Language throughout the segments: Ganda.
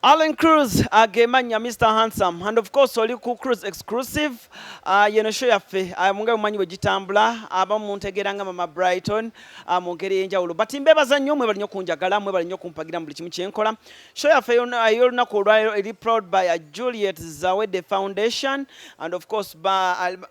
Allen Cruz agemanya uh, Mr Handsome and of course oli ku Cruz exclusive uh, yeno show yaffe uh, munga mumanyi bwe gitambula abamu muntegeera nga mama Brighton uh, mu ngeri ey'enjawulo but mbeebaza nnyo mwebali nnyo kunjagala mwebali nnyo kumpagira mu buli kimu kye nkola show yaffe uh, ey'olunaku olwaleero eri proud by uh, Juliet Zawedde Foundation and of course ba, uh,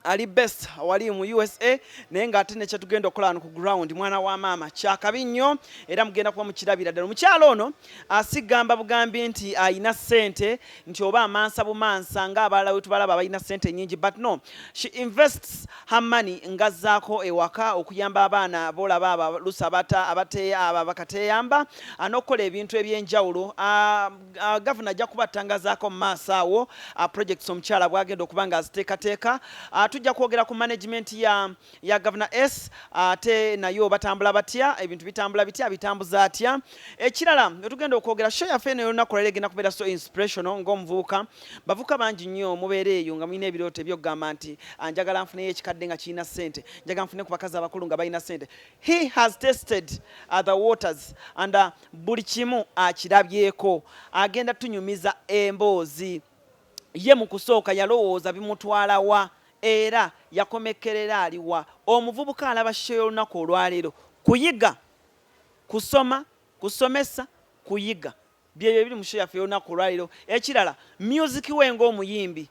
ali best wali mu usa naye nga ate nekyetugenda okukola wano ku ground mwana wa maama kyakabi nnyo era mugenda kuba mukirabira ddala omukyalo ono asigamba bugambi nti alina sente nti oba amansa bumansa nga abalala wetubalaba abalina sente nyingi but no she invests her money ngazzaako ewaka okuyamba abaana bolaba abalusa abateeya abo bakateyamba anokukola ebintu ebyenjawulo ah, Uh, gavana ajja kuba atangazaako mu maaso awo uh, projects omukyala bwagenda okuba nga aziteekateeka uh, tujja kwogera ku management ya, ya gavana s ate uh, nayo batambula batya ebintu bitambula bitya bitambuza atya ekirala wetugenda okwogera show yaffe eno yolunaku lwalero egenda kubeera so inspirational ng'omuvubuka bavuka bangi nnyo mubeera eyo nga mulina ebirooto ebyokugamba nti uh, njagala nfuneyo ekikadde nga kirina sente njagala nfune ku bakazi abakulu nga balina sente he has tested uh, the waters and uh, buli kimu akirabyeko agenda tunyumiza emboozi ye mu kusooka yalowooza bimutwalawa era yakomekkerera aliwa omuvubuka alaba sho y'olunaku olwaleero kuyiga kusoma kusomesa kuyiga byebyo ebiri mu sho yaffe y'olunaku olwaleero ekirala myuziki we ng'omuyimbi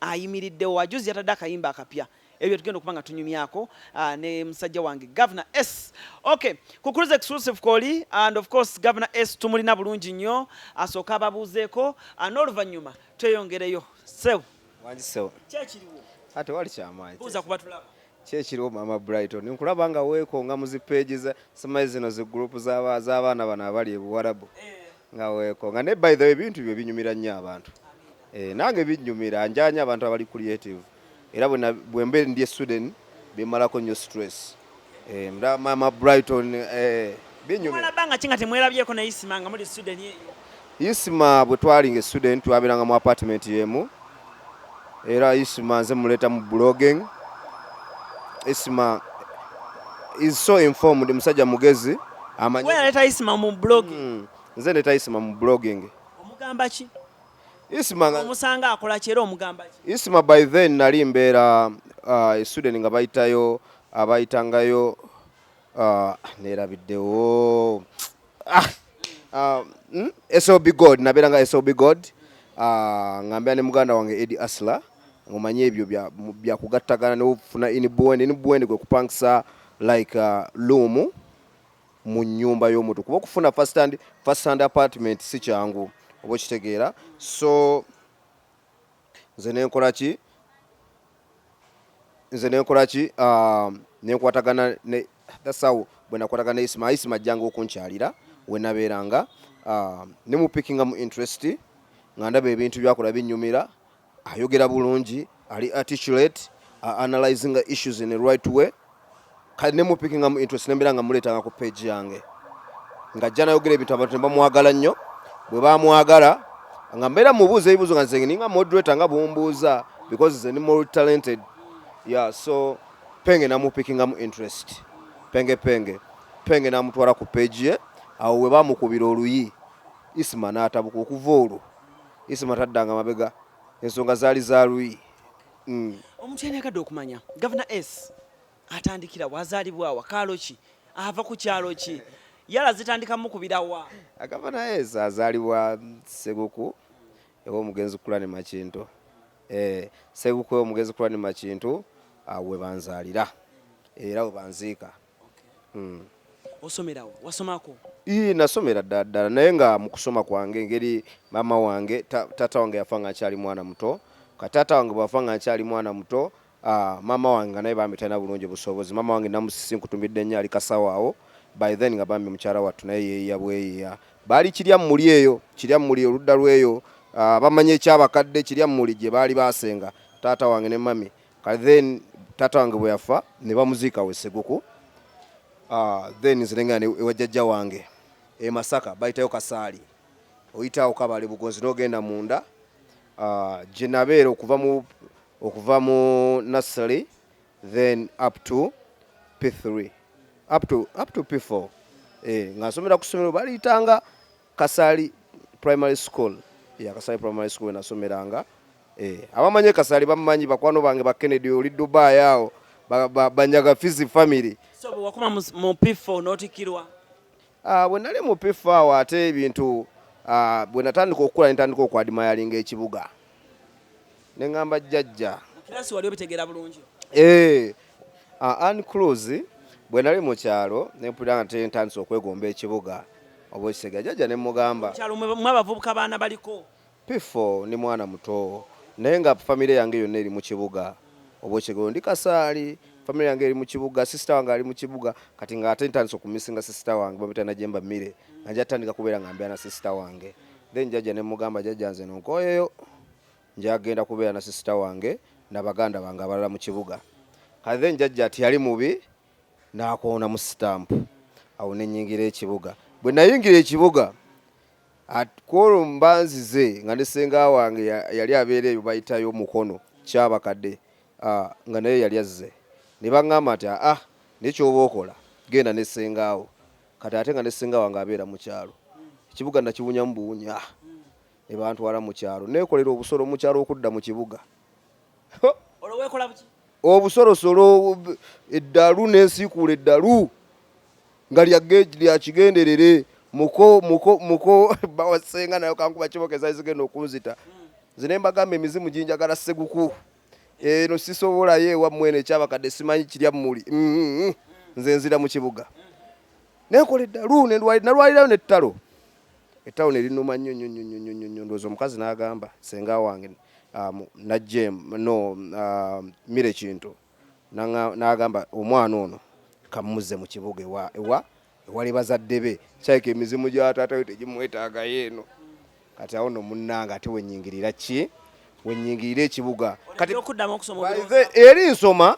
ayimiriddewo ajuzi yatadde akayimba akapya ebyo byetugenda okuba nga tunyumyako ah, ne musajja wange governor s okay kukuruza exclusive koli and of course governor s tumulina bulungi nnyo asooka ababuuzeeko ah, n'oluvannyuma tweyongereyo sew wangisew kyekiriwo ate wali kyamaanyi buuza kuba tulaba kyekiriwo maama brighton nkulaba nga weekonga mu zipeegi samaye zino zi gurupu z'abaana bano abali ebuwarabu eh. nga weko nga ne by the way bintu byo binyumira nnyo abantu eh, nange binyumira njanya abantu abali creative era bwena bwembe ndi e Sweden bimalako nnyo stress eh, mda mama Brighton eh, binyumira banga kinga temwelabyeko na isima nga muri Sweden isima bwe twalinga e Sweden twabiranga mu apartment yemu era isma nze muleeta mu blogging isma is so informed musajja mugezi amanyi wewe leta isma mu blogging mm. nze leta isma mu blogging omugamba ki isma omusanga akola kyero omugamba ki isma by then nali mbeera uh, e sweden nga bayitayo abayitangayo uh, nerabiddewo ah, uh, mm, sob god nabeera nga sob god uh, ah, ngambira ne muganda wange edi asla ngomanye ebyo byakugattagana nofuna inbwend inbwend gwe kupangisa like uh, luumu mu nyumba y'omuntu kuba okufuna first hand, first hand apartment si kyangu oba okitegeera so nze nenkola ki nze nenkola ki ah, nenkwatagana ne dasawo bwe nakwatagana ne isima isima ajjanga okunkyalira we nabeeranga ah, ne mu pickinga mu interest nga ndaba ebintu byakola binyumira ayogera bulungi ali articulate analyzinga issues in a right way kale ne mupikingamu interest nembeera nga muleetanga ku page yange nga ajja nayogera ebintu abantu ne bamwagala nnyo bwe bamwagala nga mbeera mubuuza ebibuuzo nga nzenge ninga moderator nga bumbuuza because ze ni more talented ya so penge namupikingamu interest penge penge penge namutwala ku page ye awo we bamukubira oluyi isima n'atabuka okuva olwo isima taddanga mabega ensonga zaali za luyi mm. omuntu yani agadde okumanya gavana s atandikira wazalibwawa kaalo ki ava ku kyalo ki yala zitandika mukubirawa gavana s azalibwa seguku ewa omugenzi kulani makinto eh, seguku ewa omugenzi kulani makinto awo webanzalira era webanziika osomerawo wasomako ii nasomera ddala ddala naye nga mu kusoma kwange engeri maama wange taata wange yafa nga nkyali mwana muto kataata wange bwafa nga nkyali mwana muto ah, maama wange nga naye bambi talina bulungi busobozi maama wange namusisi nkutumidde nnyo ali kasawaawo by then nga bambi mukyala wattu naye yeeya bweyeeya baali kirya mmuli eyo kirya mmuli oludda lweyo ah, bamanyi ekyabakadde kirya mmuli gye baali baasenga taata wange ne mami kati then taata wange bwe yafa ne bamuziika we Seguku ah, then nze nengenda ne- ewa jjajja wange e Masaka bayitayo Kasaali oyitaawo Kabale Bugonzi n'ogenda munda ah, gye nabeera okuva mu okuva mu nursery then up to P3 up to, up to P4 eh, nga nsomera ku ssomero baliyitanga Kasali Primary School ya Kasali Primary School enasomeranga eh, abamanye Kasali bamanyi bakwano bange ba Kennedy oli Dubai awo banyaga Fizi family so wakuma mu P4 notikirwa ah bwe nali mu P4 awo ate ebintu ah, bwe natandika okukula nitandika okwadima yalinga ekibuga ne ngamba jjajja kirasi wali obitegera bulungi eh uh, an cruz bwe nali mu kyalo ne mpulira nti ntandise okwegomba ekibuga oba ekisega jjajja ne mugamba kyalo mwe abavubuka baana baliko pifo ni mwana muto naye nga famire yange yonna eri mu kibuga oba ekigero ndi kasaali famire yange eri mu kibuga sisita wange ali mu kibuga kati nga ate ntandise okumisinga sisita wange bamita najemba mmire nga nja tandika kubeera nga mbeera na sisita wange then jajja ne mugamba jajja nze nonkoyeyo Njagenda kubeera na sisita wange na baganda bange abalala mu kibuga. Kati then jajja teyali mubi n'akoonamu sitampu. Awo ne nnyingira ekibuga. Bwe nayingira ekibuga kwolwo mba nzize nga ne senga wange yali abeera eyo bayitayo mukono kyabakadde ah, nga naye yali azze ne baŋŋamba nti aa ah, naye kyoba okola genda ne sengaawo kati ate nga ne senga wange abeera mu kyalo ekibuga nakiwunyamu buwunya ne bantwala mu kyalo neekolera obusolo mu kyalo okudda mu kibuga olwo weekola buki obusolosolo eddalu nensiikuula eddalu nga lya kigenderere muko muko muko bawasenga nayo kankuba kiboka ezali zigenda okunzita nze ne mbagamba emizimu ginjagala seguku eno sisobolayo ewammwene ekyabakadde simanyi kirya mmuli mm-hmm. nze nzira mu kibuga nenkola eddalu nalwalirayo nettalo Etown erinuma nyo nyo nyo nyo nyo nyo ndoza omukazi nagamba senga wange um, na jem no um, mire kintu nagamba omwana ono kamuze mu kibuga ewa ewa ewali bazadde be kyaika emizimu gya taata we tegimwetaagayo eno kati awo no munnanga ate wenyingirira ki wenyingirira ekibuga kati eri nsoma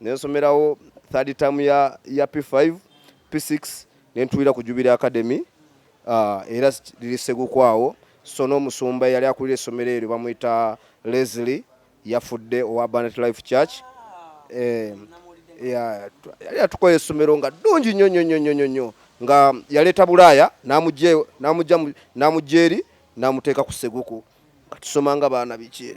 nensomerawo third term ya, ya p5 p6 nentuulira ku jubira academy uh, era liri segukwawo so n'omusumba eyali akulira essomero eryo bamuyita leslie yafudde owa abundant life church eh, yali atukola essomero nga ddungi nnyo nnyo nnyo nnyo nnyo nga yaleeta bulaaya n'amugya eri n'amuteeka ku seguku nga tusoma nga baana biki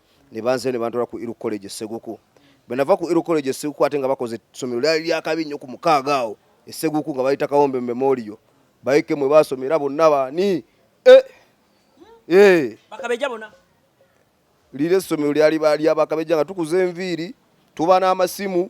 ne banze ne bantwala ku Iru College Seguku bwe nava ku Iru College Seguku ate nga bakoze essomero lyali lyakabi nnyo ku mukaaga awo Seguku nga bayita Kawombe Memorial bayike mwe baasomera bonna baani eh! eh! bakabeja bona lire essomero lyali lyabakabeja nga tukuza enviiri tuba n'amasimu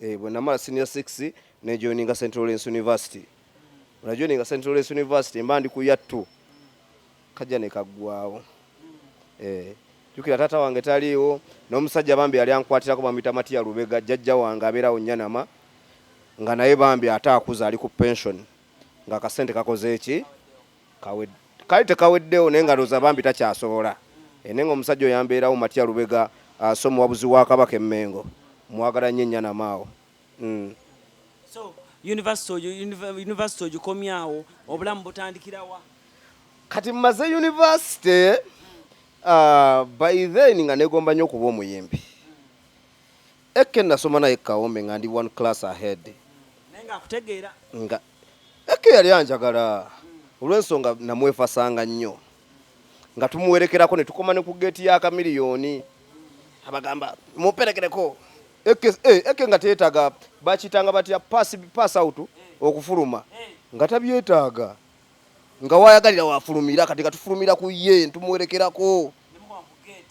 eh, bwe namala senior six ne joininga St Lawrence University bwe najoininga St Lawrence University mba ndi ku yattu kajja ne kaggwawo eh, jukira taata wange taliiwo n'omusajja bambi yali ankwatirako bamuyita matiya lubega jjajja wange abeerawo nyanama nga naye bambi ate akuza ali ku pension nga akasente kakoze eki kale tekaweddewo naye nga loza bambi takyasobola eh, naye nga omusajja oyambeerawo matya lubega ah, so muwabuzi wa kabaka emmengo mwagala nnyo ennyanamaawo mm. so university ogikomyawo obulamu butandikirawa kati mmaze university ah, by then nga negomba nnyo okuba omuyimbi Eke nasoma naye kawombe nga ndi one class ahead. Naye nga akutegeera. Nga Eke yali anjagala olw'ensonga namwefasanga nnyo nga tumuwerekerako ne tukoma ne ku geeti ya kamiliyoni abagamba muperekereko eke eh, eke nga teetaga bakitanga batya pass pass out okufuluma nga tabyetaaga nga wayagalira wafulumira kati nga tufulumira ku ye ntumuwerekerako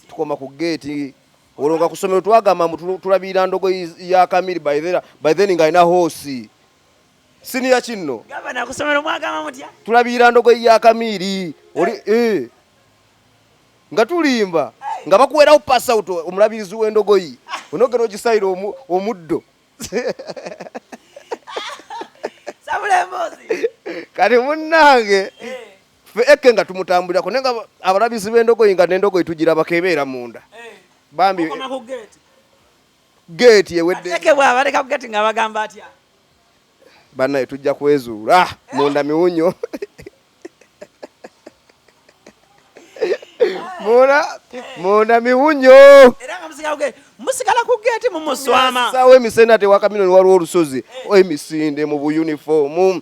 tukoma ku geeti olwo nga kusomero twagamba mbu tulabirira ndogo ya kamiri by then nga alina hoosi siniya kinno tulabirira ndogo ya kamiri oli eh. Eh. nga tulimba nga bakuwerawo pass out omulabirizi w'endogoyi onogera ogisayira omuddo kati munnange eh. ffe eke nga tumutambulirako naye nga abalabizi b'endogoyi nga n'endogoyi tugirabako ebeera munda eh, bambi geeti eweddeeke bwabaleka ku geeti nga bagamba atya bannaye tujja kwezuula ah, munda miwunyo munda munda miwunyo musigala ku geeti mumuswama sawa emisende ate wakamino waliwo olusozi eh. emisinde mu buyunifoomu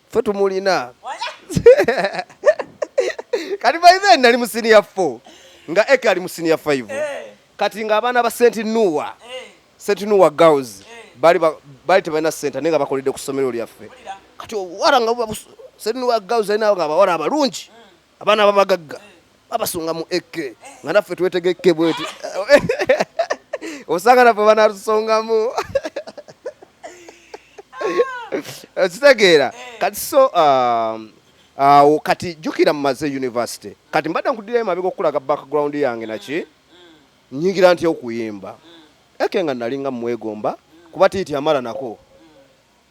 ffe tumulina kati by then nali mu senior 4 nga eke ali mu senior 5 eh. kati nga abaana ba senti nuwa eh. senti nuwa girls eh. bali bali tebalina sente naye nga bakoledde ku ssomero lyaffe kati owara nga senti nuwa girls alina nga abawala abalungi mm. abaana babagagga babasunga mu ek nga naffe twetegekke bweti osanga naffe banatusongamu okitegeera kati so um, awo kati jukira mumaze university kati mbadde nkudirayo mabega okukulaga background yange naki nyingira nti okuyimba eke nga nalinga mumwegomba kuba tiiti amala nako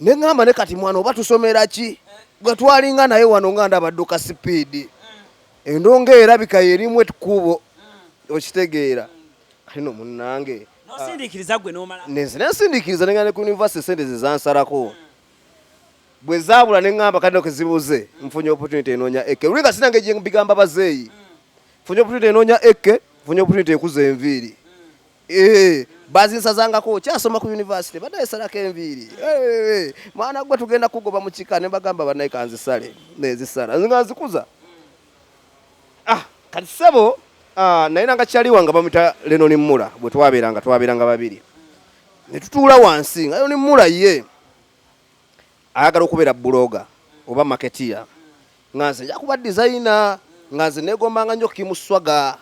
neŋamba ne kati mwana oba tusomera ki gwe twalinga naye wano nga ndaba dduka sipiidi endonga erabika yerimu ekkubo okitegeera kati no munnange nenzina ensindikiriza nengenda ne ku univesity sente zezansalako bwe zaabula neŋamba kati no kezibuze nfunye opportunity enoonya eke luli nga sinange gyembigamba bazeeyi nfunye opportunity enoonya eke nfunye opportunity ekuza enviiri Eh, bazinsazangako okyasoma ku university badaye salako enviiri eh, mwana gwe tugenda kugoba mukika nebagamba banaye kanzisale nezisala nga nzikuza ah, kati sebo ah, naye nanga kyaliwa nga bamita leno ni mula bwe twabeeranga twabeeranga babiri netutuula wansi nga leno ni mula ye ayagala okubeera buloga oba maketiya nga nze njakuba dizayina nga nze negombanga nyo kimuswaga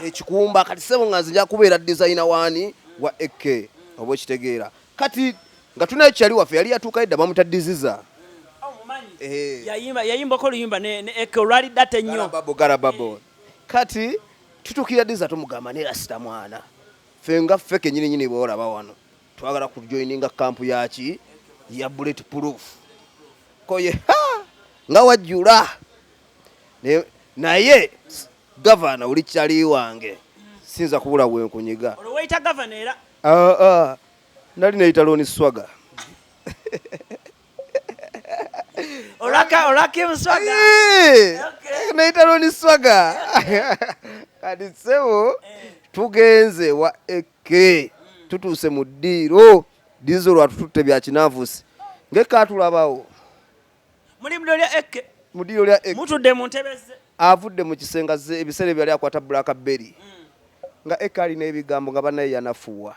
ekikumba kati sebo nga nzija kubeera dizayina waani wa ek oba okitegeera kati nga tunayo kyali waffe yali yatuuka edda bamuta diziza eh. yayimbako oluyimba ne ek olwali data ennyo garababo eh. kati tutukira diza tumugamba ne rasita mwana ffe nga ffe kenyini nyini bwolaba wano twagala kujoininga kampu yaki ya bullet proof koye nga wajjula naye naye gavana oli kyali wange sinza kubula wenkunyiga olwoyita gavana era ah, ah. nali neyita loni swaga neyita loni swaga kati sebo eh. tugenze wa eke mm. tutuuse mu ddiiro dizo lwatututte byakinaavusi ngekaatulabawo muli mu ddiiro lya ekke mu ddiiro lya ekke mutudde mu ntebe ze avudde mu kisenge azze ebiseera ebyo yali akwata black berry mm. nga ekke alina ebigambo nga banaye yanafuwa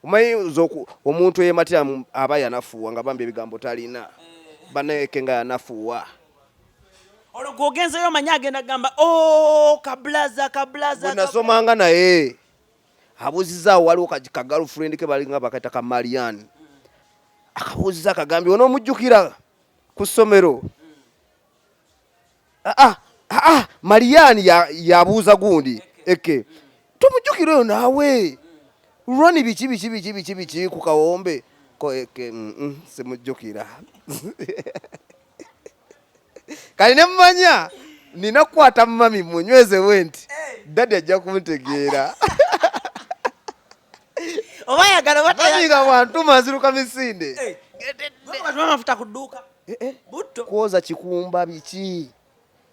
omanyi omuntu eyematira aba yanafuwa nga bambi ebigambo talina eh. banaye ekke nga yanafuwa olwo gwogenzeyo omanyi agenda kugamba o oh, kablaza kablaza bwenasomanga naye abuuzizaawo waliwo ka girlfriend ke balinga bakayita ka marian akabuuziza akagambye onoomujjukira ku ssomero aa ah, ah, ah, marian yabuuza gundi eke tomujjukira oyo naawe roni biki biki biki biki biki ku kawombe ko eke mm, mm, simujjukira kali ne mumanya nina kukwata mumami munyweze wenti eh. dadi ajja kuntegeera oba yagala batayaga bantu maziruka misinde eh. amafuta ku dduuka eh, eh. butto kwoza kikumba biki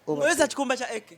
kwoza kikumba kya eke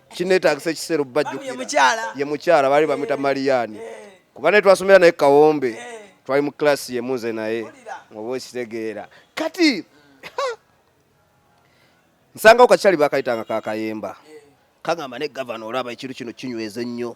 kinetagisa ekiseera obubajjukira ye mukyala baali bamwita Mariani kuba naye twasomera naye kawombe twali mu kilasi yemu nze naye oba okitegeera kati nsangawo kakyali bakayitanga kakayemba kagamba ne gavana olaba ekintu kino kinyweza ennyo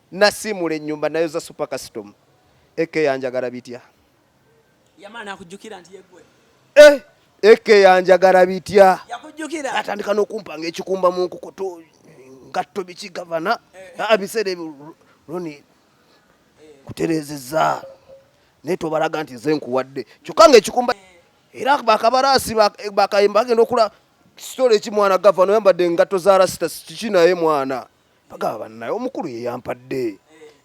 Nasiimula ennyumba nayoza super custom eke yanjagala bitya? Yamala nakujjukira nti yegwe. Eh, eke yanjagala bitya? Yakujjukira. Atandika n'okumpanga ekikumba mu nkukutu ngatto biki gavana eh. abiseera ebyo loni eh. kutereezezza naye tobalaga nti nze nkuwadde kyokka nga ekikumba eh. era bakabaraasi bakayimba bagenda okula sitole ki mwana gavana oyambadde engatto za rasita kiki naye mwana bagaba bannaye omukulu ye yampadde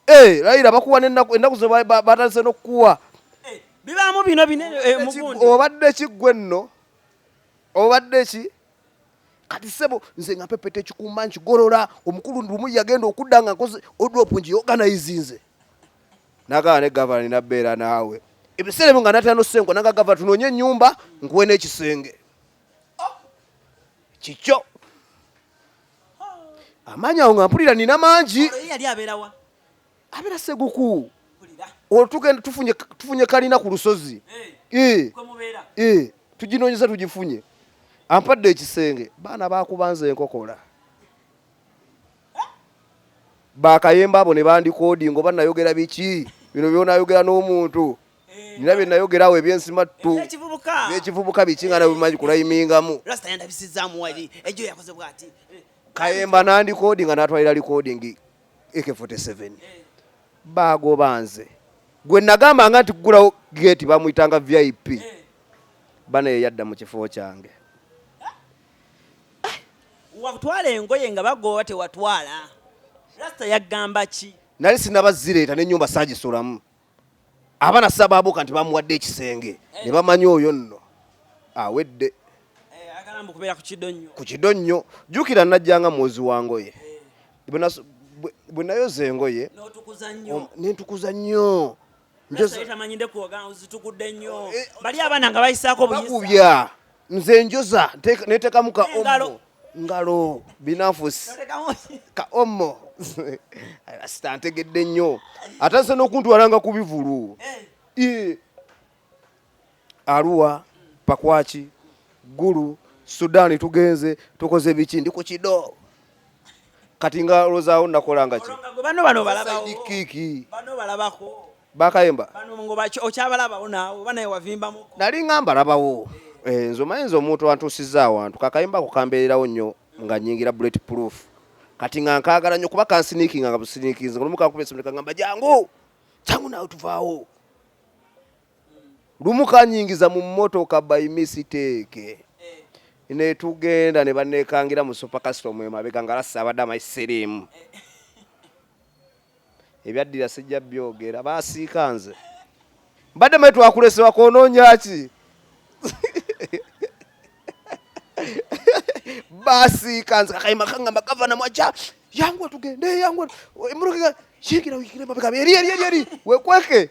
eh, layira bakuwa nenaku enaku ze batandise nokukuwa eh, bibaamu bino binene eh, mugundi obadde ki gwe nno obadde ki kati sebo nze nga pepeta ekikumba nkigolola omukulu lumu yagenda okudda nga nkoze odrop ngi organizinze nagaba ne gavana ninabeera naawe ebiseera ebyo nga natera nosenko naga gavana tunoonye enyumba nkuwe n'ekisenge oh! kikyo amaanyi awo nga mpulira nina mangi abeera seguku olwo tugenda tufunye kalina ku lusozi eh. Eh. tuginoonyeza tugifunye ampadde ekisenge baana bakubanza enkokola bakayemba abo ne bandikoodi ngoba nayogera biki bino byonayogera n'omuntu nina bye nayogera awo ebyensimattu byekivubuka biki nga nabimanyi kulayimingamu kayemba nandikodi nga natwalira likodingi ak 47 bagoba nze gwe nagambanga nti kugulawo geti bamuyitanga vip bana yeyadda mu kifo kyange watwala engoye nga bagoba tewatwala rasta yagamba ki nali sinabazireeta nenyumba sagisulamu abana sababuka nti bamuwadde ekisenge eh. ne bamanya oyo nno awedde eh, ku kido nnyo jjukira najjanga mwozi wa ngoye eh. bwe nayoza engoye nentukuza nnyo bali abaana nga bayisaako buyisa nze njoza netekamu ka omo ngalo binafusi ka omo sita ntegedde nnyo ate nse nokuntwalanga ku bivulu eh. aruwa pakwaki gulu sudani tugenze tukoze biki ndi ku kido kati nga olozaawo nakola nga ki bano bano balabawo kiki bano balabako bakayemba bano ngo bacho okyabalabawo naawo bana yewavimbamu nali nga mbalabawo eh nzo mayinza omuntu antusiza awantu kakayemba ko kambeererawo nnyo nga nyingira bullet proof kati nga nkaagala nnyo kuba kansiniikinga nga businiikinze olumu kankuba esimu ne kangamba jangu jangu naawe tuvaawo lumu kanyingiza mu mmotoka by mistake ne tugenda ne banneekangira mu super custom emabega nga lassa abadde amayi siriimu ebyaddira sijja byogera basiika nze mbadde mayi twakulesewa kwononya ki basiika nze kakayima kangamba gavana mwaja yangu tugende yangu emmotoka yingira yingira emabega eri eri eri wekweke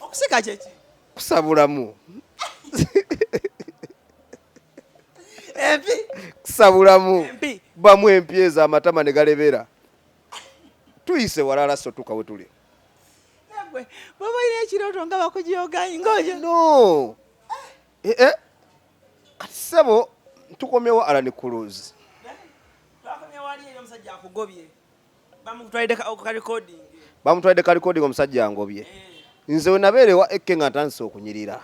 okusika kyeki kusabulamu empi kusabulamu bamu empi ezo amatama ne galebera tuyise walala sotuka we tuli baba ine ekirooto nga bakujoganyi ngoyo no eh, eh. kati sebo tukomyewo alani kuluzi bamutwalidde ka recording bamutwalidde ka recording omusajja angobye eh. nze we nabeera ewa ekke nga ntandise okunyirira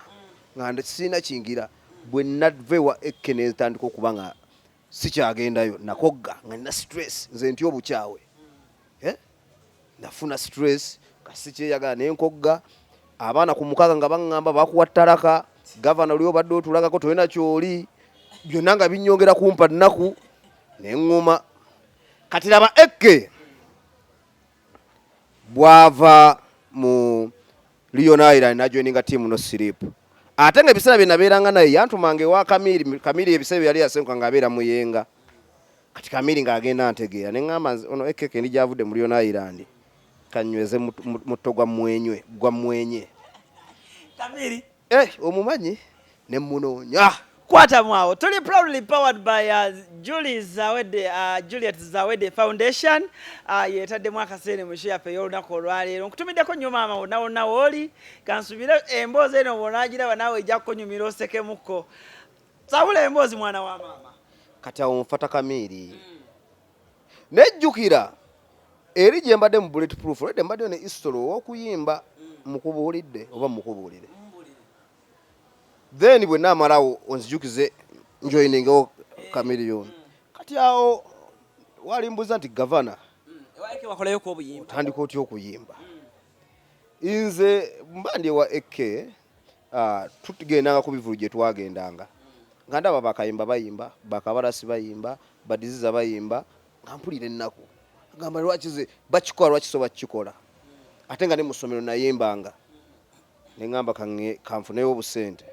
mm. nga sirina kingira bwe nava ewa ekke ne ntandika okuba nga sikyagendayo nakogga nga nina stress nze nti obukyawe mm. eh? nafuna stress kasikyeyagala ne nkogga abaana ku mukaga nga baŋŋamba bakuwa ttalaka gavana oli obadde otulagako tolina kyoli byonna nga binyongera kumpa nnaku ne ŋŋuma kati laba ekke bwava mu Leon Island najoininga tiimu no siripu ate nga ebiseera bye nabeeranga naye yantumanga ewa kamiri kamiri ebiseera byeyali yasenguka nga abeera muyenga kati kamiri nga agenda ntegeera ne ŋŋamba ono ekeke ndi gyavudde mu Leon Island kanyweze mutto gwa mwenywe gwa mwenye kamiri Eh, omumanyi ne munoonya. Kwata mwawo. Tuli proudly powered by uh, Julie Zawede, uh, Juliet Zawede Foundation. Uh, yetaddemu akaseere mu show yaffe ey'olunaku olwaleero. Nkutumiddeko nnyo maama wonna wonna wooli. Kansubire emboozi eno bw'onaagiraba naawe ejja kukunyumira osekemukko. Sabula emboozi mwana wa maama. Kati awo nfata kamiiri. Mm. naye jjukira eri gye mbadde mu bullet proof olwedde mbaddeyo ne history ow'okuyimba mukubuulidde oba mukubuulire then bwe naamalawo onzijukize njoyiningewo kamiliyoni kati awo walimbuza nti gavana otandika otya okuyimba nze mba ndi ewa ak Ah, tugendanga ku bivulu gye twagendanga nga ndaba bakayimba bayimba bakabalasi bayimba badiziza bayimba nga mpulira ennaku agamba lwaki ze bakikola lwaki so bakikola ate nga ne mu ssomero nayimbanga ne ŋŋamba kanfuneyo obusente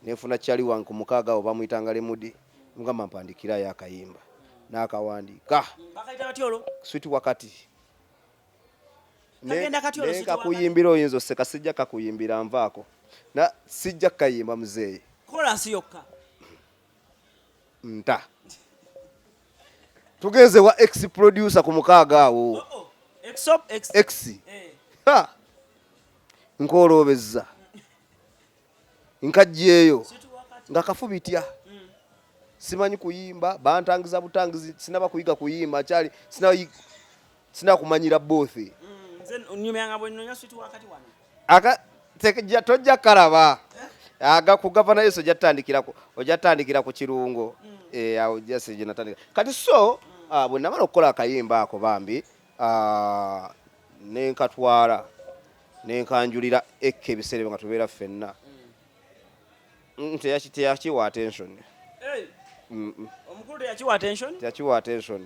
nefuna kyali wange ku mukaaga awo bamuyitanga lemudi mugamba mpandikirayo akayimba n'akawandiika switi wakati naye kakuyimbira oyinza oseka sijja kakuyimbira nvaako na sijja kayimba muzeeyi kolansi yokka nta tugenze wa ex producer ku mukaaga awo oh, oh. ex eh. nkoloobezza nkajjeeyo nga kafu bitya simanyi kuyimba bantangiza butangizi sinaba kuyiga kuyimba kyali sina kumanyira bothi tojja kalaba aga ku gavana yesu ojatandikirako ojatandikira ku kirungo mm. eh, awo jasi ginatandika kati so ah, bwenamala okukola akayimba ako bambi Ah, ne nkatwala ne nkanjulira ekka ebiseera ebyo nga tubeera ffenna Mm, teyaki- teyakiwa attention Mm, mm. omukulu teyakiwa attention teyakiwa attention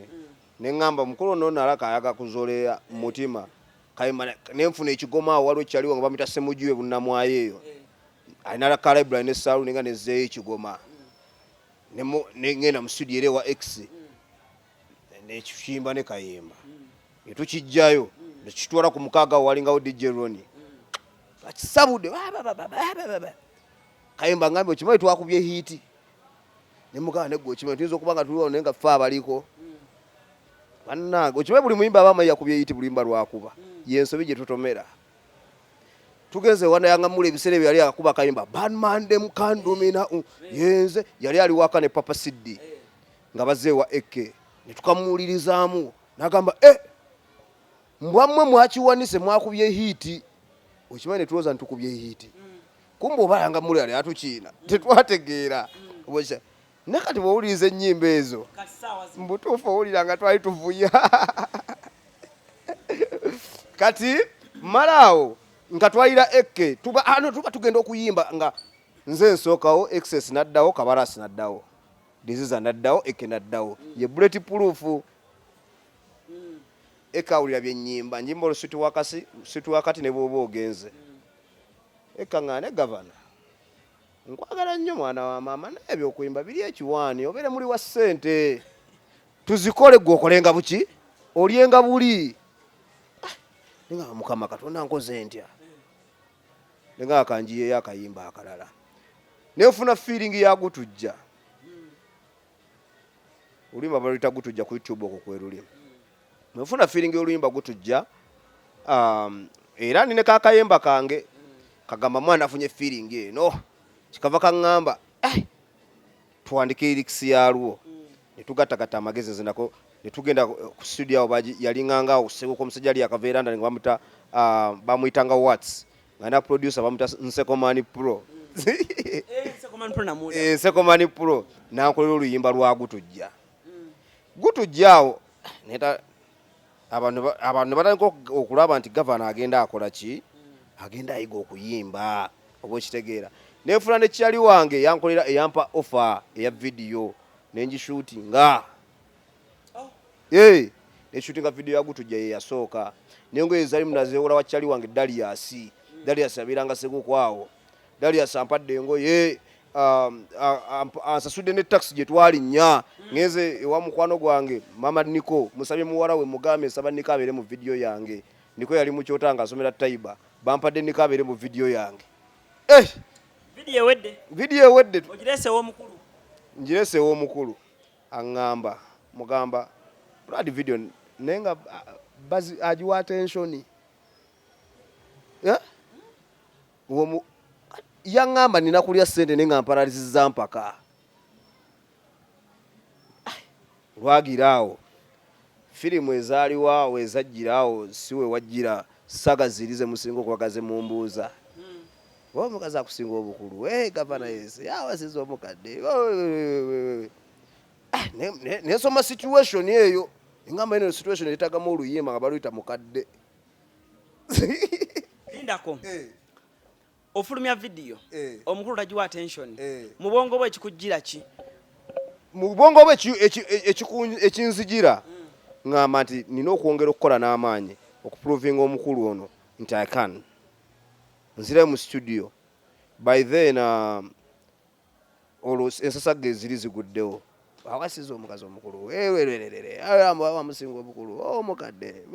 ne ŋŋamba omukulu ono nalaka ayaga kuzolera mu mutima kayimana ne nfuna ekigoma awo waliwo kyaliwo nga bamita semuju e bunnamwayo eyo alina laka library ne saalu ninga nezzeeyo ekigoma Ne mu- ne ŋŋenda mu studio era ewa x nekiyimba ne kayemba netukijjayo nekitwala ku mukaaga walingawo dj roni akisabude kayemba ngambe okimanyi twakubye hiiti nemugamba negwe okimanyi tuyinza okuba nga tuliwo naye nga fe abaliko bannange okimanyi buli muyimba aba amanyi yakubye hiiti bulimba lwakuba yensobi gyetutomera tugenze wanayanga mule ebiseera ebyo yali akuba kayimba banmande mukandumina yenze yali ali waka ne papa siddi nga bazze ewa AK ne tukamuwulirizaamu n'agamba e mbwammwe mwakiwanise mwakubye hiiti okimanyi ne tulowooza nitukubye hiiti mm. kumba obalanga muli ali atukiina mm. tetwategeera mm. naye kati bwowuliriza ennyimba ezo mbutuufu owulira nga twali tuvuya kati malaawo nga twayira ekke tuba ano tuba tugenda okuyimba nga nze nsookawo excess naddawo kabarasi naddawo diziza naddawo eke naddawo ye buleti puluufu eka awulira byenyimba njimba olusitu wakasi situ wakati ne bwoba ogenze eka nga ne gavana nkwagala nnyo mwana wa maama naye ebyokuyimba biri ekiwaani obeere muli wa ssente tuzikole gwe okolenga buki olyenga buli ah, nga mukama katonda nkoze ntya nga akanjiyeyo akayimba akalala nefuna feeling ya gutujja oluyimba baluyita gutujja ku youtube okwo kweruli nefuna feeling y'oluyimba gutujja um, era nine kakayemba kange kagamba mwana afunye feeling eno kikava kaŋŋamba eh, tuwandika lyrics yalwo netugattagatta amagezi nze nako netugenda ku studio awo yalinganga awo sewuka omusajja ali yakava eranda nga bamuta ah, bamuyitanga wats nga na producer bamuta nsekomani pro nsekomani eh, pro nankolera oluyimba lwa gutujja mm. gutujja awo neta abantu ne batandika okulaba nti gavana agenda akola ki agenda ayiga okuyimba oba okitegeera nenfuna ne kyali wange yankolera eyampa offer eya vidiyo nengishutinga oh. eh, neshutinga vidiyo yagutujja ye yasooka nengoye zalimu nazewola wa kyali wange daliasi daliasi abeeranga segukwaawo daliasi ampadde engoye Um, ansasudde ne taxi gye twalinnya ngenze ewa mukwano gwange mama niko musabye muwala we mugambe nsaba niko abeere mu vidiyo yange niko yali mukyota nga asomera taiba bampadde niko abeere mu vidiyo yange eh! vidiyo ewedde ngireseewo omukulu aŋŋamba mugamba brad vidiyo naye nga agiwa atensioni eh? yaŋŋamba nina kulya ssente ne nga mparalizizza mpaka lwagira awo firimu ezaaliwo awo ezajjira awo si we wajjira saga ziri ze musinga okubaga ze mumbuuza oba omukazi akusinga obukulu e gavana yese awasiza omukadde ah, nesoma situation eyo eŋamba eno situation etagamu oluyimba nga baluyita mukadde lindako eh. ofulumya vidiyo eh. omukulu tagiwa attention eh. mu bwongo bwe ekikujjira ki mu bwongo bwe ekinzijira mm. ngamba nti nina okwongera okukola n'amaanyi okuprovinga omukulu ono nti i can nzirayo mu studio by then uh, olwo ensasagga eziri ziguddewo awasiza omukazi omukulu wamusinga obukulu omukadde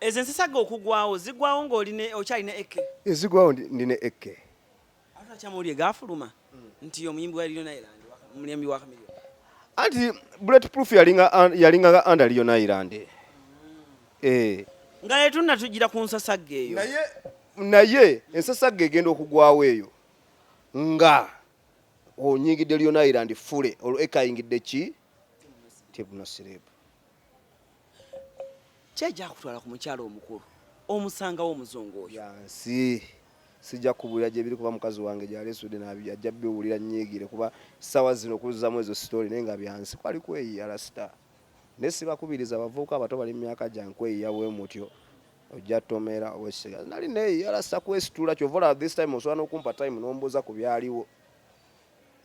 ezo ensasagga okugwawo zigwawo ngaoli okyalina eke ezigwawo ndina eke akyamawulire gafuluma nti omuyimbi wa Lionel Island omuyimbi wa Chameleone anti bullet proof yalinga yalinga under Lionel Island eh nga letunna tujira ku nsasagga eyo naye naye ensasagga egenda okugwawo eyo nga onyigidde lyona iland fule olwo ekayingidde ki tibu nasirebu kyajakutwala ku mukyalo omukulu omusangawo omuzungu oyo yansi sijja kubulira gyebiri kuba mukazi wange gyalesude ajja biwulira nyigire kuba sawa zino okuzamu ezo story naye nga byansi kwali kweyiyala star naye sibakubiriza abavubuka abato bali mu myaka gyange kweyiya bwe mutyo ojja tomera owesiga nali naye yala sakwesitula kyovola this time osobola nokumpa time nombuuza ku byaliwo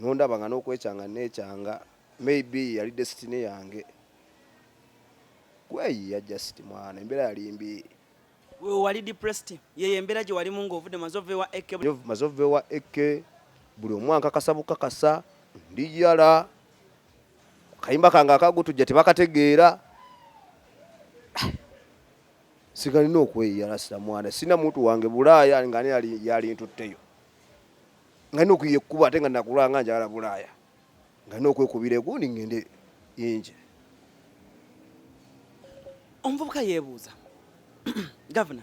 nondaba nga nokwekyanga nekyanga maybe yali destiny yange kweyiya just mwana embeera yali mbi wali depressed yeyo embeera gye walimu ngaovudde mazovewa eke mazovewa eke buli omu ankakasa bukakasa ndi yala kayimba kange akagutujja tebakategeera sigalina okweyiyala sinamwana sina muntu wange bulaaya nga ani yalintutteyo nga nina okuyiya ekkuba ate nga nakulanga njagala bulaaya nga nina okwekubira egundi ngende inje omuvubuka yebuuza gavana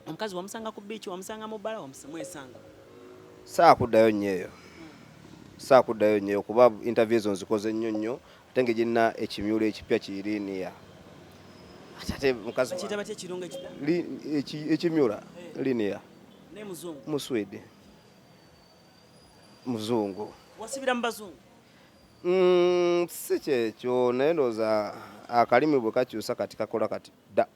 omukazi wamusanga ku biiki wamusanga mu bbala mwesanga saakuddayo nnyo eyo saakuddayo nnyo eyo kuba interview ezo nzikoze nnyo nnyo Ate ngejina ekimyulo ekipya kiri niya ate mukazi bakiyita batya ekirungo ekipya ekimyula eh. linear ne muzungu mu Sweden muzungu wasibira mu bazungu mm, si kyekyo naye ndowooza akalimi bwe kakyusa kati kakola kati da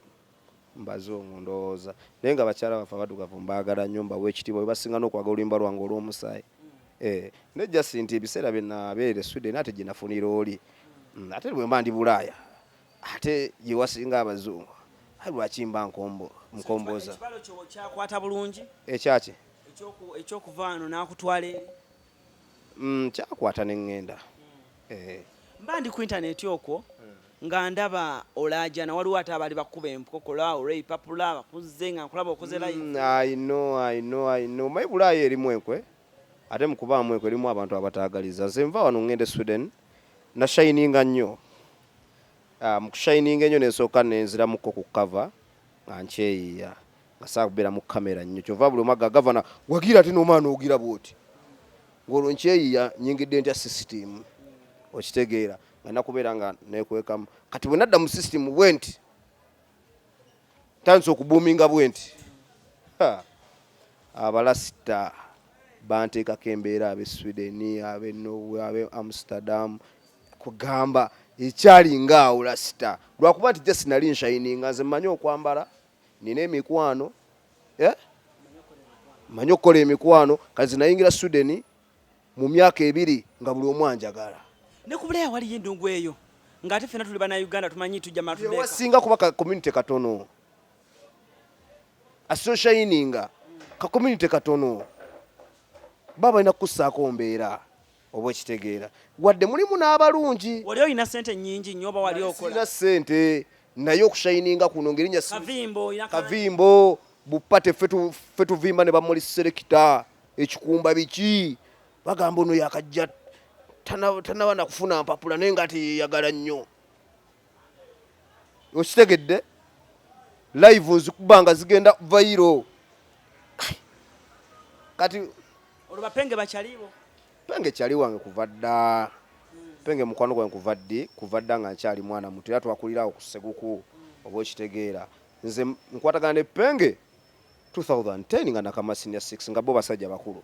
mbazungu ndowooza naye nga bakyala baffe abadugavu mbaagala nnyo mbawa ekitiibwa bebasinga n'okwagala oluyimba lwange olw'omusaayi eh, ne jasi nti ebiseera byenabeera esweden ate gyenafunira oli mm, ate bwe mba ndi bulaaya ate gyewasinga abazungu ayi lwaki mba nkombo nkomboza ekyakyekyokuvaano nakutwala eri Mm, kyakwata ne ŋŋenda. Eh. Mba ndi ku intaneeti okwo nga ndaba olaajana waliwo ate abaali bakuba empokola olwa ipapula bakuzze nga nkulaba okoze layi. Mm, I know, I know, I know. Mayi bulaayo erimu enkwe ate mu kubaamu enkwe erimu abantu abataagaliza. Nze nva wano ŋŋenda e Sweden nashayininga nnyo Ah, mu kushayininga enyo nensooka nenziramuko ku cover nga nkyeyiya Asaa kubera mu camera nnyo kyova buli omu aga gavana wagira ate n'omwana ogira bwoti ng'olwo nkyeyiya nyingidde ntya sisitimu okitegeera nga nakubeera nga nekwekamu kati bwe nadda mu sisitimu bwenti tandise okubuuminga bwenti abalasita banteekako embeera ab'e sweden ab'e norway ab'e amsterdam kugamba ekyali ng'awo lasita lwakuba nti just nali nshayininga nze mmanyi okwambala nina emikwano eh? manyi okukola emikwano kazi nayingira sudeni mu myaka ebiri nga buli omu anjagala ne ku buleya waliyo endungu eyo ng'ate fena tuli bana uganda tumanyi tujja matuwasinga kuba ka community katono asoshayininga ka community katono baba balina kukussaako mbeera oba okitegeera wadde mulimu n'abalungi wali olina sente nyingi nyo oba wali okola sente naye okushayininga kuno ngerinya kavimbo bupate fe tuvimba ne bamuli serekita ekikumba biki bagamba ono yakajja tanaba nakufuna mpapula naye nga ate yeyagala nnyo okitegedde live nzikuba nga zigenda vairo kati olubapenge bakyaliwo penge kyali wange kuva dda penge mukwano gwange kuva ddi kuva dda nga nkyali mwana muto era twakulirawo ku seguku oba okitegeera nze nkwatagana ne penge 2010 nga nakamasinia 6 nga bo basajja bakulu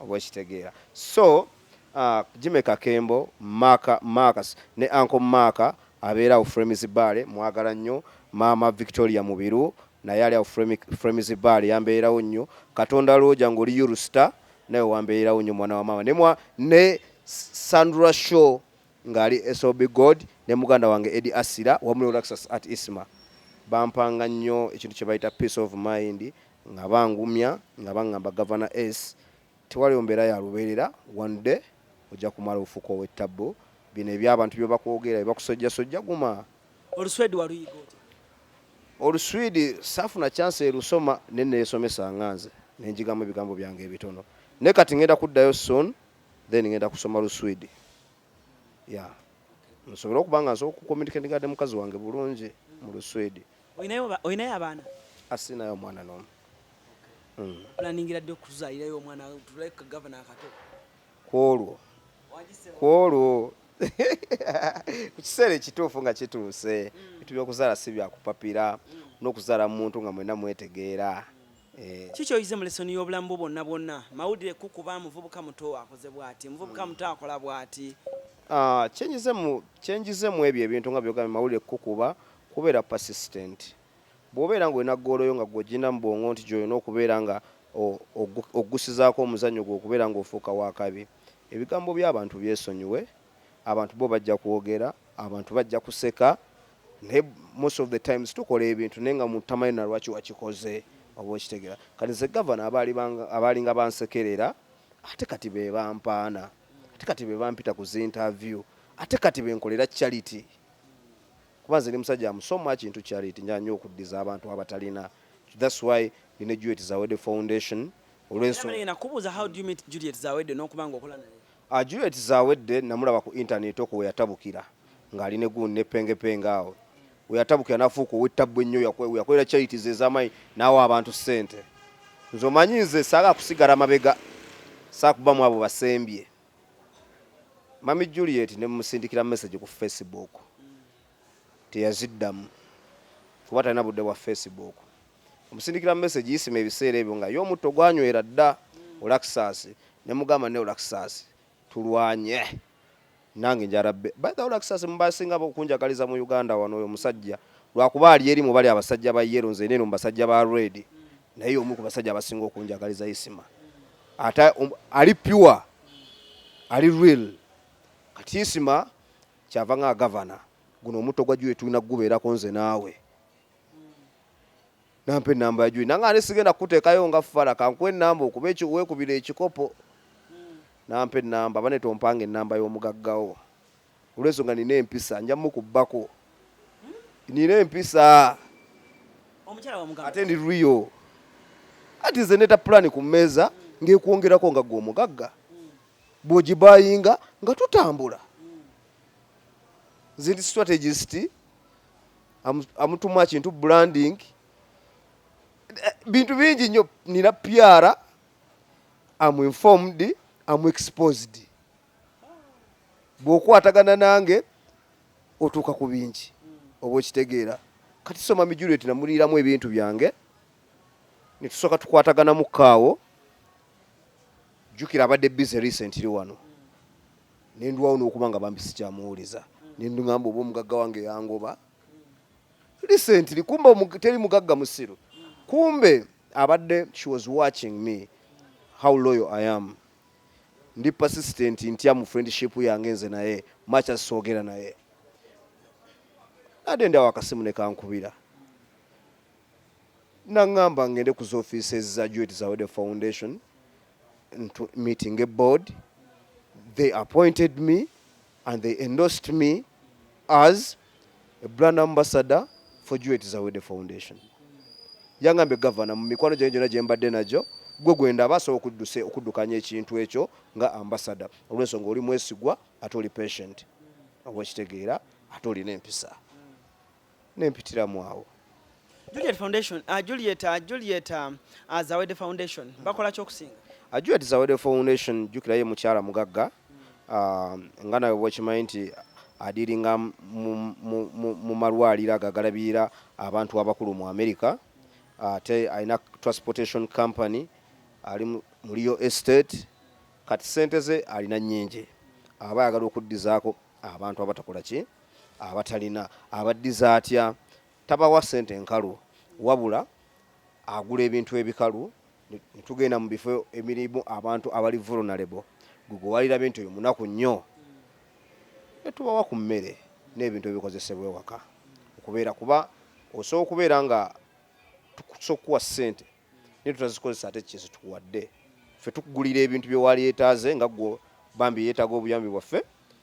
oba okitegeera so uh, jime kakembo maka marcus ne anko maka abeera awo fremis bale mwagala nnyo maama victoria mubiru naye ali awo fremis bale yambeerawo nnyo katonda lwoja ngaoli yurusta naye wambeerawo nnyo mwana wa maama nemwa ne sandra show ngaali sob god ne muganda wange edi asira wamu ne olaxas at isma bampanga nnyo ekintu kyebayita peace of mind nga bangumya nga bangamba Gavana S tewaliwo mbeera ya lubeerera one day ojja kumala ofuuke ow'ettabbu bino eby'abantu byebakwogeera byebakusojjasojja guma. Oluswedi waluyiga otya? Oluswidi saafuna chance elusoma naye neyesomesa nga nze nenjigamu ebigambo byange ebitono naye kati ngenda kuddayo soon then ngenda kusoma luswidi ya nsobole okuba nga nsobola okucommunicatinga ne mukazi wange bulungi mu luswidi. olinayo abaana asinayo omwana nomu hmm. planingira ddi okuzaalirayo omwana tuleke gavana akato kwolwo kwolwo ku kiseera ekituufu nga kituuse hmm. bitu byokuzaala si byakupapira hmm. n'okuzaala mu muntu nga mwena mwetegeera Eh. kiki oyize mu lesoni y'obulamu bwo bwonna bwonna mawulire kukuba muvubuka muto akoze bwati muvubuka muto akola bwati ah, kyenjizemu ebyo ebintu nga byogambye mawulire kukuba Kubeera persistent. Bw'obeera ng'olina ggoolo yo nga ggwe ogirina mu bwongo nti gy'olina okubeera nga oggusizaako omuzannyo gwe okubeera ng'ofuuka w'akabi. Ebigambo by'abantu byesonyiwe, abantu bo bajja kwogera, abantu bajja kuseka naye most of the times tukola ebintu naye nga omuntu tamanyi na lwaki wakikoze oba okitegera. Kati nze gavana abaalinga bansekerera ate kati be bampaana ate kati be bampita ku zi interview ate kati be nkolera charity. kuba nze ndi musajja am so much into charity njala nnyo okuddiza abantu abatalina thats why ndi ne juliet zawede foundation olwensonakubuuza how do you meet juliet zawede n'okuba nga okola naye uh, juliet zawedde namulaba ku intaneti okwo weyatabukira ng'ali ne gundi ne pengepenge awo weyatabukira nafuuka owettabbu ennyo yakolera charities ez'amaanyi n'awa abantu ssente nze omanyi nze saala kusigala mabega saakubamu abo basembye Mami Juliet ne musindikira message ku Facebook teyaziddamu kuba talina budde bwa Facebook. Omusindikira message yisima ebiseera ebyo nga ye omutto gwanywera dda olakisaasi ne mugamba ne olakisaasi tulwanye nange njala bbe. By the way olakisaasi mu basinga okunjagaliza mu Uganda wano oyo omusajja lwakuba ali eri mu bali abasajja ba yellow nze eno mu basajja ba red naye y'omu ku basajja abasinga okunjagaliza yisima. ata um, ali pure ali real kati isima kyava nga gavana guno omutto gwa juye tulina kugubeerako nze naawe nampa enamba ya juye nanga ani sigenda kukuteekayo nga fala kankuwa enamba okuba wekubira ekikopo nampa enamba bane tompanga enamba y'omugaggawo olwensonga nina empisa nja mukubbako nina empisa ate ndi riyo ati nze neta pulani ku mmeeza ngaekwongerako nga gwe omugagga bwogibayinga nga tutambula nze ndi strategist amutumu akintu branding bintu bingi nnyo nina pyara am informed am exposed bw'okwatagana nange otuuka ku bingi oba okitegeera kati soma mijuleti namuliiramu ebintu byange netusooka tukwataganamu kaawo jukira abadde busy recently wano nendwawo n'okuba nga bambi sikyamuwuliza nendugamba oba omugagga wange yangoba recently kumbe teri mugagga musiru kumbe abadde she was watching me how loyal i am ndi persistent ntya mu friendship yange nze naye much as soogera naye ade ndawo akasimu nekankubira nangamba ngende ku zoffice eza juet zawede foundation meeting a board they appointed me and they endorsed me as a brand ambassador for Juliet Zawede Foundation. Yangambye gavana mu mikwano gyange gyonna gye mbadde nagyo gwe gwe ndaba asobola okudduse okuddukanya ekintu ekyo nga ambasada olw'ensonga oli mwesigwa ate oli patient oba okitegeera ate olina empisa nempitiramu awo Juliet Foundation, uh, Juliet, uh, Juliet uh, uh, Zawede Foundation mm. bakola kyokusinga uh, Juliet Zawede Foundation jukira ye mukyala mugagga mm. uh, nga nawe bwekimanyi nti adiringa mu malwaliro ago agalabirira abantu abakulu mu america ate uh, alina transportation company ali mu real estate kati sente ze alina nyingi aba ayagala okuddizaako abantu abatakola ki abatalina abaddiza atya? Tabawa ssente nkalu wabula agula ebintu ebikalu ne tugenda mu bifo emirimu abantu abali vulnerable gwe gwe walirabye nti oyo munaku nnyo ne tubawa ku mmere n'ebintu ebikozesebwa ewaka okubeera kuba osobola okubeera nga tukusa okukuwa ssente naye tutazikozesa ate kye zituwadde ffe tukugulira ebintu bye waali yetaaze nga gwo bambi yeetaaga obuyambi bwaffe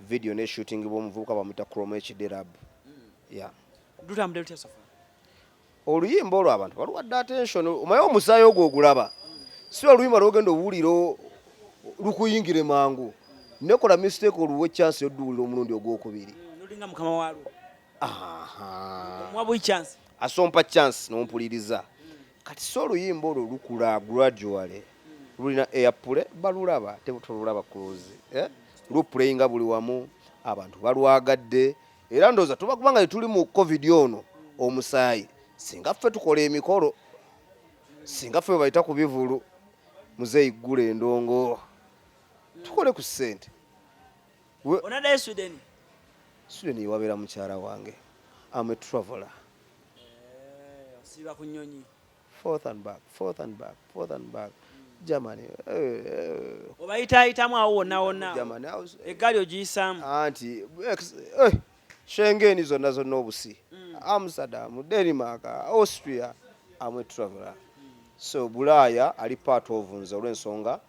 vidiyo neshutingibwa omuvubuka bamuyita crom hd rab oluyimba olwo abantu baluwadde attention omaye omusaayi ogwo ogulaba si oluyimba lwogenda owulira lukuyingire mangu nekola mistake oluwa echansi yoduwulira omulundi ogwokubiri asompa chance nompuliriza Kati so oluyimba olwo lukula gradually lulina airplay balulaba tebutolulaba close eh? luplayinga buli wamu abantu balwagadde era ndowooza tuba kubanga tetuli mu covid ono omusaayi singa ffe tukola emikolo singa ffe webayita ku bivulu muzeeyi ggula endongo tukole ku ssente onadayo sweden sweden yewabeera mukyala wange am a traveler eh, osiiba ku nyonyi forth and back forth and back forth and back germany eh, eh. obayitaayitamu awo wonna wonna eggaali ogiyisaamu anti shengeni zonna zonna obusi mm. amsterdam denmark austria am a traveler so bulaaya ali part of nze olw'ensonga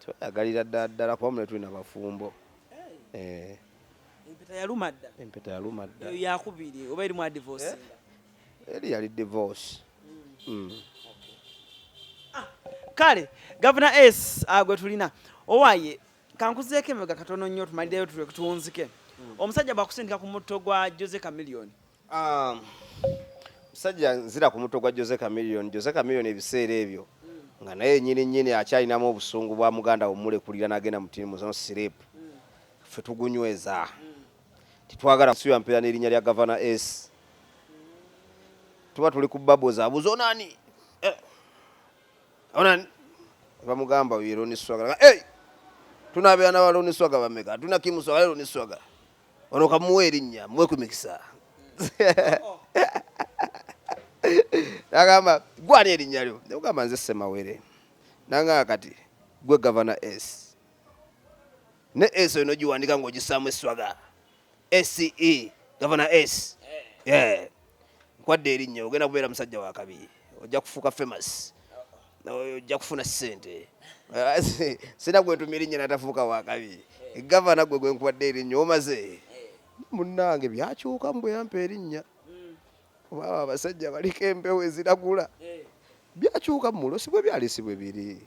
tweyagalira ddala ddala kuba mune tulina bafumbo eh. empeta yaluma dda empeta yaluma dda eyo yakubiri oba erimu adivorce eh? eri yali divorce mm. ah, kale gavana s ah, gwe tulina owaye kankuzeeko emega katono nnyo tumaliddeyo tulwe kutunzike mm. omusajja bwakusindika ku mutto gwa jose camilioni Um, musajja nzira ku mutwe gwa Jose Chameleone. Jose Chameleone ebiseera ebyo nga naye nyini nyini akyalinamu obusungu bwa muganda wumulekulira nagenda mutini muzono sirip ffe tugunyweza tetwagala suya mpeera n'erinnya lya gavana s tuba tuli ku babo zabuza onani eh. onani bamugamba yero niswagala hey! tunabeera na baloni swaga bameka tuna kimuswaga lero niswagala Ono kamuwa erinnya muwe ku mikisa. Nagamba gwe ani erinnya lyo? Ne mugamba nze Semawere. Nangamba kati gwe gavana S. Ne S oyo nogiwandika ng'ogisaamu esswaga. SE gavana S. Eh. Yeah. nkwadde erinnya ogenda kubeera musajja wa kabi ojja kufuuka famous ojja kufuna sente sina gwentuma erinnya natafuuka wa kabi gavana gwe gwenkwadde erinnya omaze munnange byakyuka mu bweyampa erinnya obaba abasajja baliko empewo eziragula byakyuka mu mulo si bwe byali si bwe biri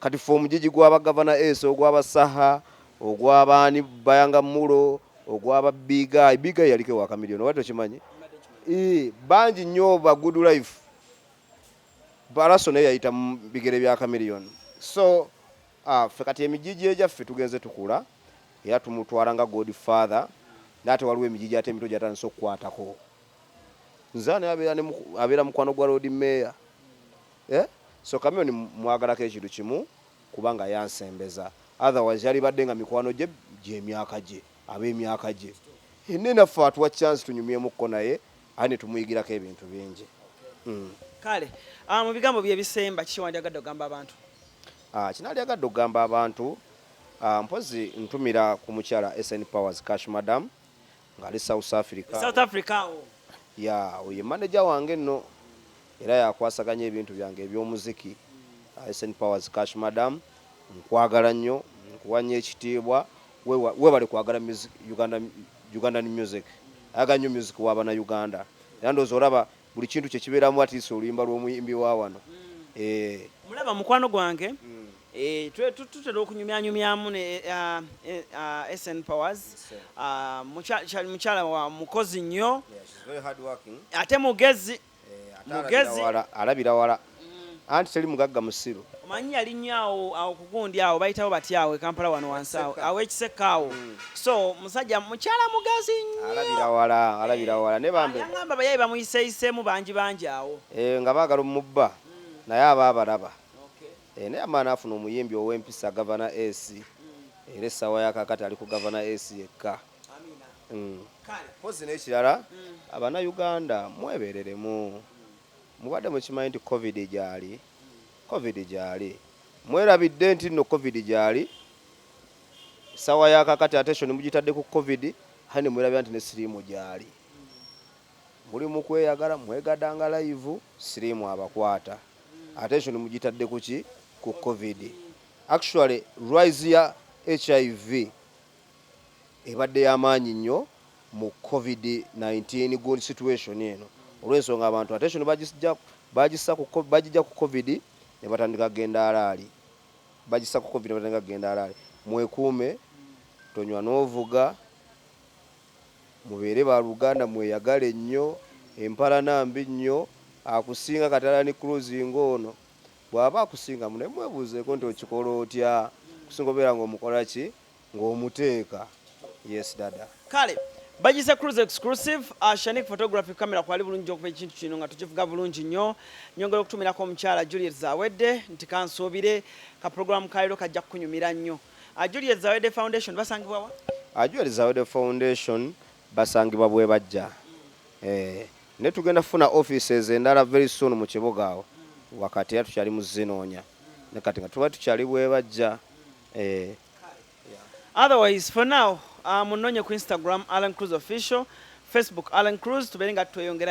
Kati ffe omujiji gwa ba Governor Ace, ogwa ba Saha, ogwa baani Bayanga Mulo, ogwa ba Big Guy. Big Guy yaliko ewa Chameleon, obadde okimanyi? Ii, bangi nnyo ba Good Life. Balaso naye yayita mu bigere bya Chameleon. So, ah, ffe kati emijiji egyaffe tugenze tukula era tumutwala nga Godfather. Naye ate waliwo emijiji ate emito gyatandise okukwatako. Nze ani abeera ne muku- abeera mukwano gwa Lord Mayor? Ehh so chameleon mwagalako ekintu kimu kubanga yansembeza otherwise yalibadde nga mikwano gye gyemyaka gye abemyaka gye Hene naffe atuwa chance tunyumyemu ko naye aye netumuyigirako ebintu bingi uhmm. Kale aah mubigambo byo ebisemba kiki wandyagadde ogamba abantu? Aah kyenalyagadde ogamba abantu aah mpozi ntumira ku mukyala SN powers cash madam ngali South Africa South Africa awo ya oye manager wange no era yakwasaganya ebintu byange eby'omuziki uh, SN Powers Cash Madam nkwagala nnyo nkuwanya ekitiibwa webale kwagala Uganda Ugandan music ayaga nnyo music w'abana Uganda era ndowooza olaba buli kintu kye kibeeramu at least oluyimba lw'omuyimbi wa wano eh. mulaba mukwano gwange mm. eh, tutera okunyumyanyumyamu ne eh, ah, eh, ah, sn powers ah, mukyala wa mukozi nnyo ate mugezi mugezi alabira wala mm. anti teli mugagga musiru omanyi yali nnyo awo awo kugundi awo bayitawo bati awo ekampala wano wansi awo awo ekisekka awo mm. so musajja mukyala mugazi nnyo alabira wala alabira wala ne bambe yangamba bayayi bamuyiseyisemu bangi bangi awo eh, nga baagala omubba mm. naye aba abalaba eh, naye amaana afuna omuyimbi ow'empisa gavana ac era essaawa yakakati ali ku gavana ac yekka mpozi mm. n'ekirala mm. abana uganda mwebereremu Mubadde mukimanyi nti covid gyali? Covid gyali? Mwerabidde nti nno covid gyali? Sawa ya kakati attention mugitadde ku covid hali ne mwerabira nti ne siriimu gyali. Muli mukweyagala mwegadanga layivu siriimu abakwata. Attention mugitadde kuki? Ku covid. Actually rise ya HIV. ebadde yamaanyi nnyo mu covid nineteen gun situation eno olwensonga abantu attention bajisja bajissa ku ko bajija ku covid nebatandika kugenda alaali bajissa ku covid nebatandika kugenda alaali mwekuume tonywa novuga mubeere ba luganda mweyagale nnyo empalana mbi nnyo akusinga kati alani cruz ngoono bwaba akusingamu naye mwebuuzeeko nti okikola otya okusinga obeera nga omukola ki ng'omuteeka yes dada kale bagize cruise exclusive uh, shanik photography camera kwali bulungi okuba ekintu kino nga tukivuga bulungi nnyo nyongera okutumirako omukyala juliet zawedde nti kansuubire ka program kaliro kajja kukunyumira nnyo uh, juliet zawedde foundation basangibwawa uh, juliet zawedde foundation basangibwa bwe bajja mm. eh, ne tugenda kufuna offices endala very soon mu kibuga awo wakati era tukyali mu zinoonya mm. ne kati nga tuba tukyali bwe bajja eh otherwise for now uh, munonye ku instagram alan cruz official facebook alan cruz tubeere nga tweyongera